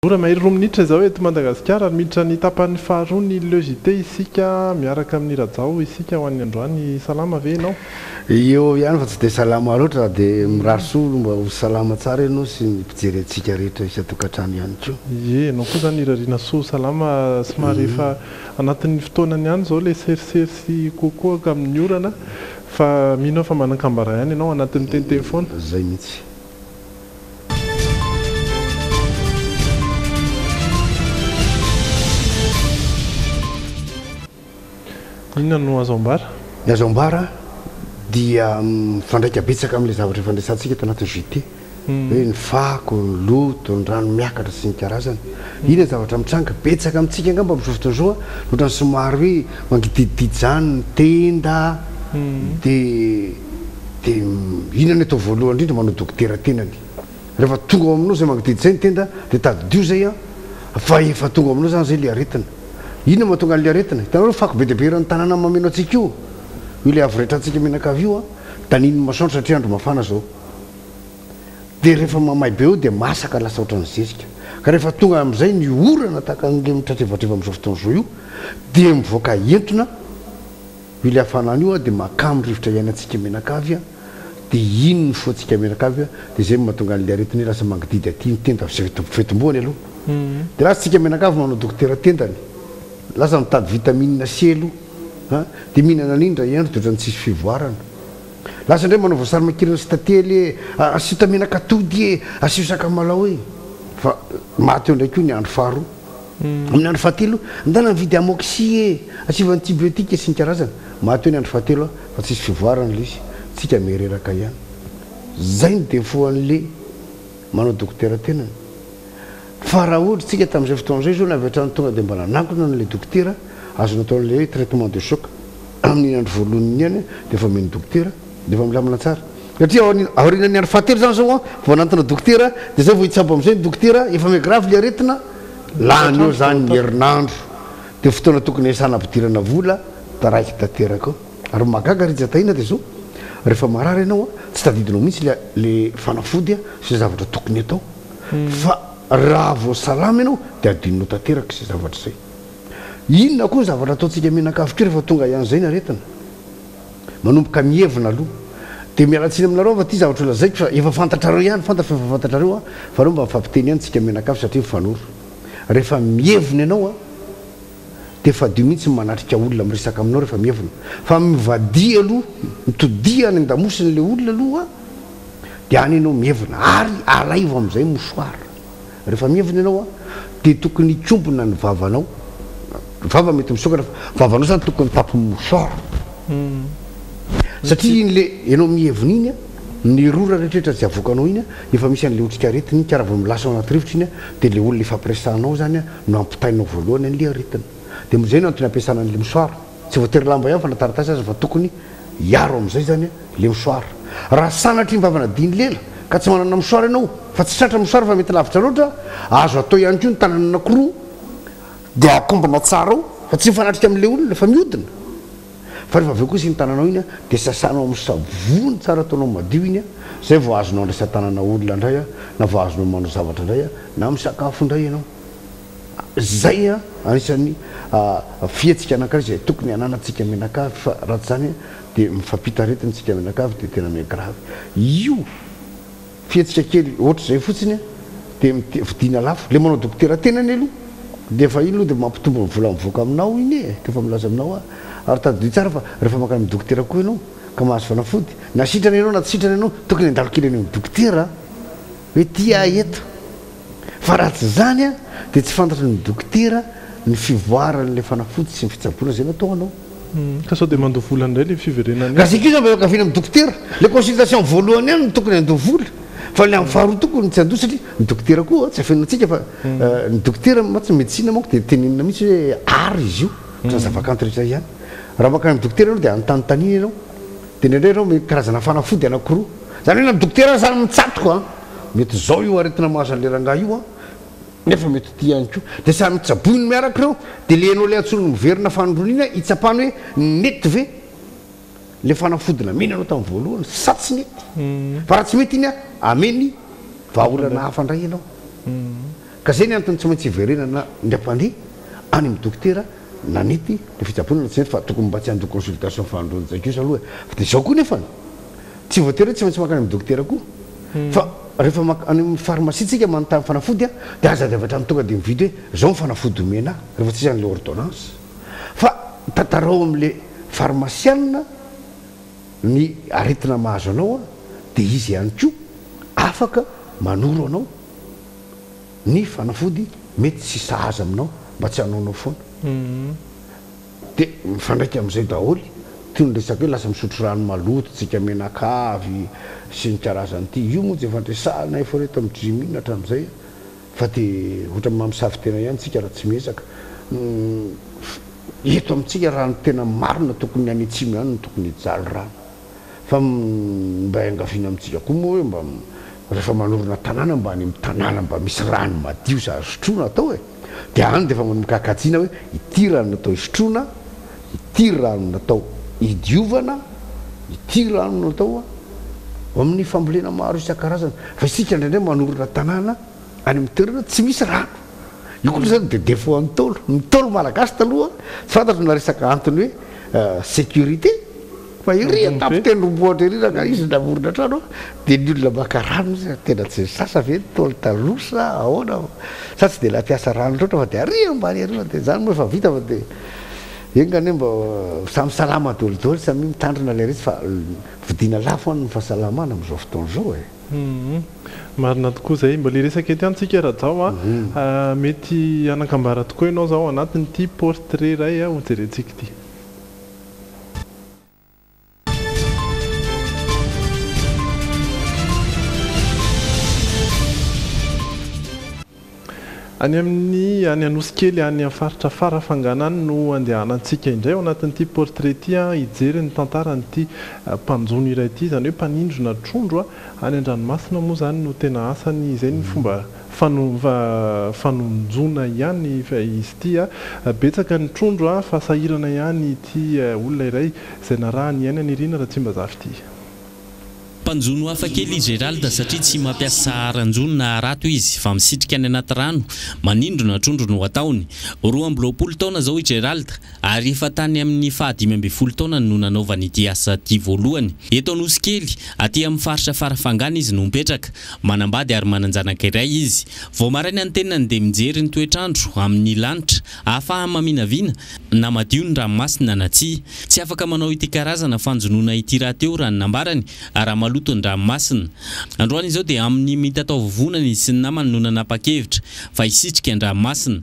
Ora mahery roa minitra izao eto Madagasikara ary miditra ny tapany faharoa ny Le JT isika miaraka amin'i Rajao isika ho an'ny androany. Salama ve ianao? Eo eo ihany fa tsy dia salama loatra raha dia mirary soa aloha mba ho salama tsara ianao sy ny mpijery antsika rehetra isan-tokantrano ihany koa. Ie, ianao koa izany irariana soa ho salama, somary efa anatin'ny fotoanany ihany izao ilay serisery sy koakoaka amin'ny orana fa mino aho fa manan-kambara ihany ianao anatin'ny tente foana. Izay mihitsy. Inona no azo ambara? Ny azo ambara dia mifandraika betsaka amin'ilay zavatra efa niresahantsika tao anatin'ny JT, hoe ny fako, ny loto, ny rano miakatra sy ny karazany. Iny ny zavatra mitranga betsaka amintsika angamba amin'izao fotoana izao loatra ny somary hoe mangidihidihidy izany ny tenda dia Dia inona no atao voalohany indrindra? Manao dokotera tenany. Rehefa tonga ao aminao izay magnodidy izay ny tenda dia tadidio izay an! Fa efa tonga ao aminao izany izay ilay aretina. Inona no mahatonga an'ilay aretina? Hitanao ilay fako be dia be eran'ny tanàna mameno antsika io? Io ilay avo retrantsika mianakavy io an! Danihin'ny masoandro satria andro mafana izao. Dia rehefa mamay be eo dia masaka lasa ohatran'ny zezika. Ka rehefa tonga amin'izay ny orana tahaka an'ilay mitratrevatreva amin'izao fotoana izao io dia mivoaka entona. Io ilay hafanana io dia makamo rivotra iainantsika menakavy a! dia iny ny foantsika menakavy a! dia izay no mahatonga an'ilay aretina io lasa mangididy aty ny tenda sy fetim-boany aloha dia lasa tsika menakavy manao dokotera tendany lasa mitady vitamine C aloha a! dia mihinana an'iny indray andro dia ohatran'ny tsisy fivoarana lasa indray manao voasary makirana sy tantely e! asio tamenak'atody e! asio sakamalao e! fa maty eo indray koa ny andro faharoa. Amin'ny andro fahatelo, ndana nividy amoxy e! Asivo antibiotiques isan-karazany. Maty eo ny andro fahatelo a! Fa tsisy fivoarana le izy. Tsika me reraka ihany. Zay no defaut an'le manao dokotera tenany. Fa raha ohatra tsika tamin'izay fotoana izay zao na avy hatrany tonga dia mba nanakona an'le dokotera, azonao atao an'le hoe traitement de choc. Amin'iny andro voalohany iny ihany dia efa omen'ny dokotera. Dia efa milamina tsara. Satria aorianan'ny andro fahatelo izany izao an, vao nanantona dokotera, dia izay vao hitsabo amin'izay ny dokotera, efa mais grave ilay aretina, lany eo izany ny herinandro, dia fotoana tokony hiasana hampidirana vola, taraiky tanteraka eo. Ary ny mahagaga Rija Tahiana dia izao, rehefa marary ianao an, tsy tadidinao mihitsy ilay fanafody an, izay zavatra tokony hatao, fa raha vao salama ianao dia adinonao tanteraka izay zavatra izay. Inona koa ny zavatra ataontsika mianakavy koa rehefa tonga hiany izay ny aretina? manomboka mihevona aloha dia miala tsiny aminareo fa ity zavatra ho lazaiko fa efa fantatrareo ihany fantatro fa efa fantatrareo an fa reo mba mifampiteny ihany tsika mianakavy satria mifanoro rehefa mihevona ianao an dia fadio mihitsy ny manatrika olona miresaka aminao rehefa mihevona fa mivadia aloha mitodia any an-damosiny ilay olona aloha dia any ianao mihevona ary alaivo amin'izay mouchoir Rehefa mievina ianao an, dia tokony hikombona ny vavanao, ny vava mety misokatra fa ny vavanao zany tokony tapy mouchoir, satria iny le ianao mievina iny an, ny rora rehetra izay avoakanao iny an, efa misy an'le otrik'aretina iny ka raha vao milasa ao anaty rivotra iny an, dia le olona efa pressanao zany an no ampitainao voalohany an'le aretina, dia izay no antony ampiasana an'le mouchoir. Tsy voatery lamba ihany fa na taratasy aza fa tokony hiaro amin'izay zany le mouchoir. Raha sanatria ny vavana dihin'ny lela ka tsy manana mouchoir ianao fa tsy tratra mouchoir fa mety lavitra loatra, azo atao ihany koa ny tanana anakiroa dia akombona tsara ao fa tsy mifanatrika amin'ilay olona fa mihodina. Fa rehefa avy eo kosa iny tananao iny dia sasanao amin'ny savony tsara ataonao madio iny izay vao azonao andraisan-tanana olona indray na vao azonao manao zavatra indray na misakafo indray ianao. Izay anisan'ny fihetsika anankiray izay tokony hananantsika mianakavy fa raha tsy izany dia mifampita aretina isika mianakavy dia tena mi grave io fihetsika kely ohatr'izay fotsiny dia vidiana lafo ilay manao dokotera tena anie aloha dia efa iny aloha dia mampitombo ny vola mivoaka aminao iny e dia efa milaza aminao a ary tadidio tsara fa rehefa mankany amin'ny dokotera koa ianao ka mahazo fanafody na sitrana ianao na tsy sitrana ianao tokony handalo kely any amin'ny dokotera Hoe tia ahy eto. Fa raha tsy izany dia tsy fantatry ny dokotera ny fivoaran'ilay fanafody sy ny fitsaboana izay nataonao. Ka sao dia mandoa vola indray ilay fiverenany eo. Ka zay kosa mba miankaviana amin'ny dokotera. Ilay consultation voalohany ihany no tokony handoa vola fa ilay amin'ny faharoa tokony tsy handoa satria ny dokotera koa tsy afenina antsika fa ny dokotera mantsy ny medecine manko dia tenenina mihitsy hoe art izy io ohatran'ny zavakanto rehetra ihany. Raha mankany amin'ny dokotera ianao dia anontanintaniana ianao. Dia indraindray ireo mety karazana fanafody anankiroa. Izany hoe na ny dokotera aza mitsatoka an! Mety izao io aretina mahazo an'ilay rangahy io an! Nefa mety ho tia ihany koa. Dia samy tsaboiny miaraka ireo. Dia ilay ianao ilay antsoin'ny miverina fanindroany iny an, hitsapany hoe nety ve ilay fanafody namenanao tamin'ny voalohany sa tsy nety. Fa raha tsy mety iny an, hameno ny vahaolana hafa indray ianao. Ka zay ny antony tsy maintsy hiverenana ny ampandria any amin'ny dokotera nanity ny fitsaboana na tsy nety fa tokony mba tsy handoa consultation fahandroan'ny jaikiosa aloha e! Fa dia zao koa nefany tsy voatery hoe tsy maintsy mankany amin'ny dokotera koa fa rehefa mank any amin'ny pharmacie tsika manontany fanafody a! dia aza dia avy hatrany tonga dia mividy hoe zao ny fanafody omena ahy rehefa tsy izany le ordonnance fa tantarao amin'le pharmacianina ny aretina mahazo anao a! dia izy ihany koa afaka manoro anao. ny fanafody mety tsy sahaza aminao mba tsy hanaonao foana de mifandraika amizay daholo toy ny resaka hoe lasa misotro rano maloto tsika menakavy sy ny karazany ty io moa jefa andresahana efa reto am dry mihina atramizay fa de otrany maha misavy tena ihany tsika raha tsy miezaka eto amitsika raha ny tena marina tokony any atsimo ihany no tokony hijaly rano. fa mba iangaviana amintsika koa moa hoe mba rehefa manorina tanàna mba any amin'ny tanàna mba misy rano madio sy azo sotroina atao e! dia any dia efa manomboka hakajiana hoe ity rano natao hisotroana, ity rano natao hidiovana, ity rano natao ho amin'ny fambolena maro isan-karazany, fa isika indraindray manorina tanàna any amin'ny toerana tsy misy rano, io koa izany dia défaut an'ny Ntaolo, ny Ntaolo malagasy taloha tsy fantatro na resaka antony hoe sécurité, Fa ery an-tampon tendrombohitra ery raha ka izy namorona trano dia ny olona maka rano izy a, tena tsy sasa ve ny Ntaolo taloha sa ahoana fa sa tsy dia nampiasa rano loatra fa dia ary ambany ary fa dia izany moa efa vita fa dia enga anie mba samy salama daholo daholo samia mitandrina ilay izy fa vidiana lafo any ny fahasalamana amin'izao fotoana izao e. Marina tokoa izay. Mbola hiresaka ety amintsika Rajao a. Mety hanakambara tokoa ianao izao ao anatin'ity portrait iray hojerentsika ity. Any amin'ny any Anosikely any amin'ny faritra Farafangana any no andehanantsika indray ao anatin'ity portrait ity hijery ny tantaran'ity mpanjono iray ity, izany hoe mpanindrona trondro any an-dranomasina moa izany no tena asany, izay ny fomba Fanonjoana ihany izy ity a! Betsaka ny trondro a! Fa sahirana ihany ity olona iray izay naraha ny aina nirina Ratsimbazafa ity. Mpanjono hafa kely i Gerald satria tsy mampiasa haranjono na harato izy fa misitrika any anaty rano, manindrona trondro no ataony. Roa amby roapolo taona izao i Gerald. ary efa tany amin'ny fahadimy ambin'ny folo taonany no nanaovany ity asa ity voalohany. Eto Anosikely, aty amin'ny faritra Farafangana izy no mipetraka. Manambady ary manan-janaka iray izy. Vao maraina ny tenany dia mijery ny toetr'andro amin'ny lanitra, ahafahany maminavina na madio ny ranomasina na tsia. Tsy afaka manao ity karazana fanjonoana ity rahateo raha ny nambarany, raha maloto ny ranomasina. Androany izao dia amin'ny mitataovovonany sy ny namany no nanapa-kevitra fa hisitrika ny ranomasina.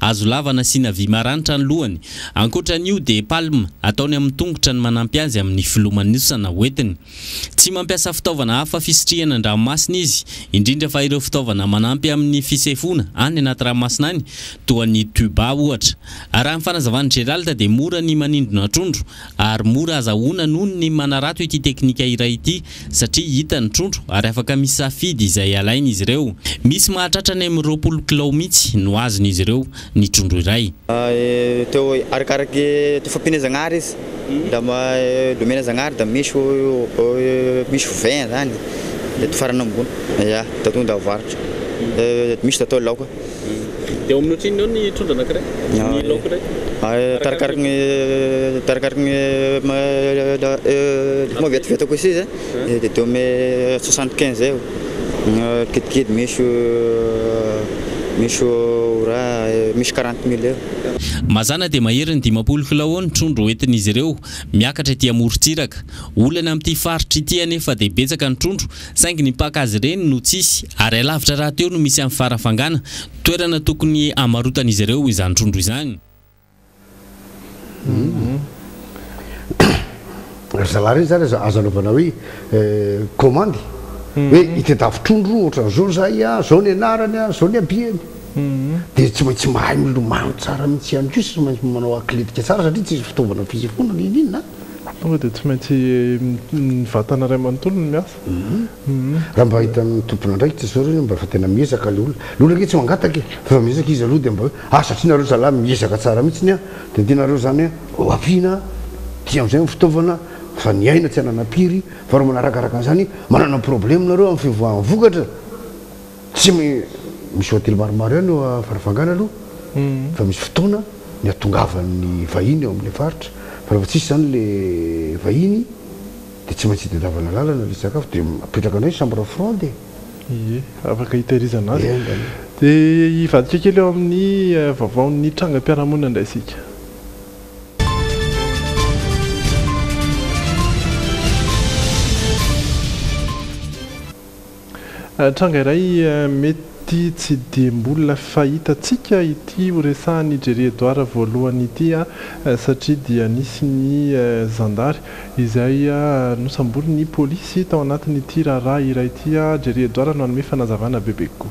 Hazo lava nasiana vy maranitra ny lohany. Ankoatra an'io dia palme ataony amin'ny tongotra ny manampy azy amin'ny filomanosana hoentiny. Tsy mampiasa fitaovana hafa fisitrihana an-dranomasina izy, indrindra fa ireo fitaovana manampy amin'ny fisefoana any anaty ranomasina any, toa ny tuba ohatra. Arahin'ny fanazavan'i Gerald dia mora ny manindrona trondro ary mora azahoana noho ny manarato ity teknika iray ity satria hita ny trondro ary afaka misafidy izay alainy izy ireo. Misy mahatratra any amin'ny roapolo kilao mihitsy no azon'izy ireo ny trondro iray. Teo arakaraky teo fampiana Zagnahary izy raha mba omena Zagnahary da misy ho misy ho vingt zany de teo farany ambony ya da tonga da avarotra misy da atao laoka. Eo amin'ny ohatrinona eo ny trondro anankiray? Ny laoka iray? Arakaraky ny arakaraky ny maha vetivety koa sisa dia eo amin'ny soixante quinze eo na kidikidy misy misy ora misy quarante mille eo. Mazàna dia mahery ny dimampolo kilao eo ny trondro hoentin'izy ireo miakatra ety amorontsiraka. Olana amin'ity faritra ity anefa dia betsaka ny trondro Saingy ny mpaka azy ireny no tsisy, ary hay lavitra rahateo no misy an'i Farafangana, toerana tokony hamarotan'izy ireo izany trondro izany. Ry zalahy ireny izany aza azo anaovana hoe komandy hoe itadiavo trondro ohatran'izao izahay, izao ny anarany, izao ny habeny. Dia tsy maintsy mahay milomano tsara mihitsy ihany koa sy manao atletika tsara satria tsisy fitaovana fisy foana na inona inona. Tonga dia tsy maintsy ny vatana iray manontolo no miasa. Raha mba hitan'ny tompon'andraikitra izao ireo mba efa tena miezaka ilay olona. Ilay olona ange tsy mangataka e! Fa efa miezaka izy aloha dia mba hoe ah satria nareo zalahy miezaka tsara mihitsiny an! Dia ny tianareo izany hoe ho ampiana aty amin'izay ny fitaovana fa ny aina tsy anana mpiry fa raha manarakaraka an'izany manana problème nareo amin'ny fivoahan'ny vokatra. Tsy misy hotely maromaro ihany eo Farafangana aloha fa misy fotoana ny hatongavan'ny vahiny eo amin'ilay faritra fa rehefa tsisy izany ilay vahiny dia tsy maintsy hitadiavana lalana ilay sakafo dia apetraka indray ny chambre froide e! Ie, afaka hitehirizana azy. Dia hivadika kely eo amin'ny vaovaon'ny trangam-piarahamonina indray isika. Tranga iray mety tsy dia mbola fahitantsika ity horesahan'i Jerry Edouard voalohany ity satria dia nisy ny zandary izay nosamborin'ny polisy tao anatin'ity raharaha iray ity. Jerry Edouard no hanome fanazavana bebe kokoa.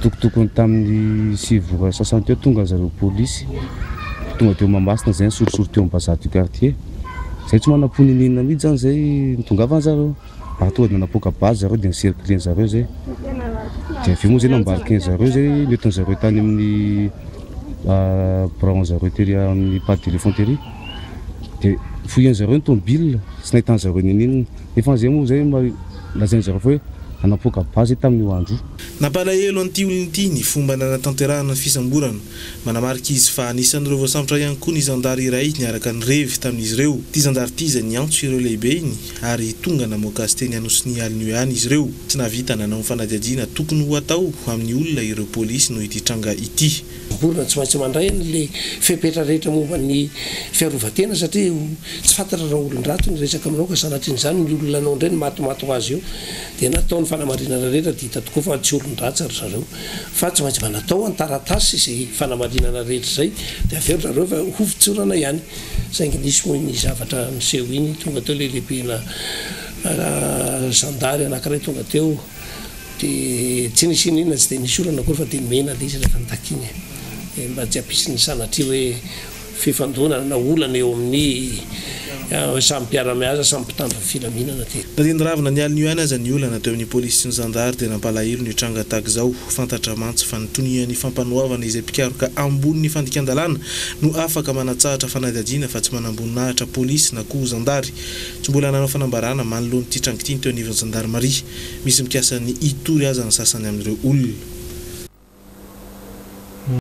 Tokotokony tamin'ny sivy ora sasany teo tonga zareo polisy tonga teo Mahamasina zay nisorisory teo bazar du quartier zay tsy manam-po niniana mihitsy zany zay nitongavany zareo ary tonga dia napoaka base zareo dia ni-cercler zareo zay dia avy eo moa zay nambarikeny zareo zay nentiny zareo tany amin'ny biraon zareo tery amin'ny pas de téléphone tery dia fouilleny zareo ny tomobile tsy nahitany zareo niniana nefa zay moa zay lazainy zareo fa hoe napoaka base zay tamin'io andro io. Nampalahelo an'ity olona ity ny fomba nanatanterahana ny fisamborana. Manamarika izy fa anisan'ireo voasambotra ihany koa ny zandary iray niaraka nirevy tamin'izy ireo. Ity zandary ity izay niantso ireo lehibeny ary tonga namoaka azy teny Anosinia alin'io ihany izy ireo. Tsy nahavita nanao ny fanadihadiana tokony ho atao amin'ny olona ireo polisy noho ity tranga ity. Olona tsy maintsy mandray an'ilay fepetra rehetra momba ny fiarovan-tena satria tsy fantatra raha olon-dratsy no resaka aminao ka sanatrian'izany ny olona anao indray no matimaty ho azy eo. Dia natao ny fanamarinana rehetra dia hita tokoa fa tsy olon-dratsy ry zareo. Fa tsy maintsy mba natao ny taratasy izay fanamarinana rehetra izay dia avy eo ry zareo efa ho fitsorana ihany. Saingy nisy moa iny zavatra niseho iny, tonga teo ilay lehibena zandary anankiray tonga teo dia tsy nisy inona inona tsy dia nisy olana akory fa dia mena ilay izy rehefa nitakiany e. Dia mba tsy hampisy ny sanatria hoe. fifandonana na olana eo amin'ny samy mpiara-miasa, samy mpitandro filaminana teo. Na dia niravona ny alin'io ihany aza ny olana teo amin'ny polisy sy ny zandary dia nampalahelo ny tranga tahaka izao. Fantatra mantsy fa ny tonian'ny fampanoavana izay mpikaroka ambonin'ny fandikan-dalàna no afaka manatsahatra fanadihadiana fa tsy manamboninahitra polisy na koa zandary. Tsy mbola nanao fanambarana manoloana ity tranga ity ny teo anivon'ny zandarimaria. Misy mikasa ny hitory aza ny sasany amin'ireo olona.